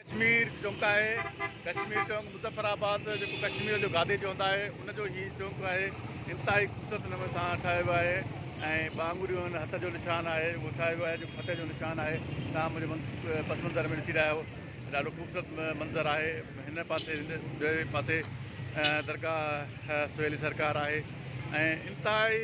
ڪشمير چونڪ آهي، ڪشمير چونڪ، مظفر آباد جيڪو ڪشمير جو گادي چونڪ آهي ان جو هي چونڪ آهي انتهائي خوبصورت نموني سان ٺاهيو ويو آهي ۽ ٻه آڱريون ان هٿ جو نشان آهي اهو ٺاهيو ويو آهي جيڪو فتح جو نشان آهي توهان منهنجي پس منظر ۾ ڏسي رهيا آهيو ڏاڍو خوبصورت منظر آهي هن پاسي ٻئي پاسي درگاهه سهيلي سرڪار آهي ۽ انتهائي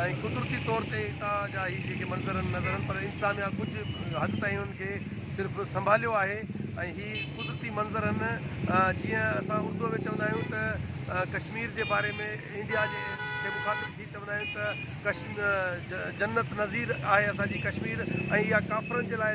۽ قدرتي طور تي اتان جا هي جيڪي منظر آهن نظر آهن پر انسان يا ڪجهه حد تائين انهن کي صرف سنڀاليو آهي ۽ هي قدرتي منظر آهن جيئن اسان اردوء ۾ چوندا آهيون ته ڪشمير جي باري ۾ انڊيا جي کي مخاطب ٿي چوندا آهيون ته جنت نظير آهي اسان جي ڪشمير ۽ اها ڪافرن جي لاء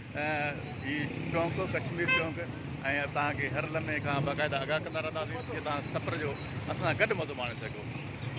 هي چونڪ ڪشمير چونڪ ۽ توهان کي هر لمحي کان باقاعده آگاهه ڪندا رهنداسين جيئن توهان سفر جو اسان سان گڏ مزو ماڻي سگهو.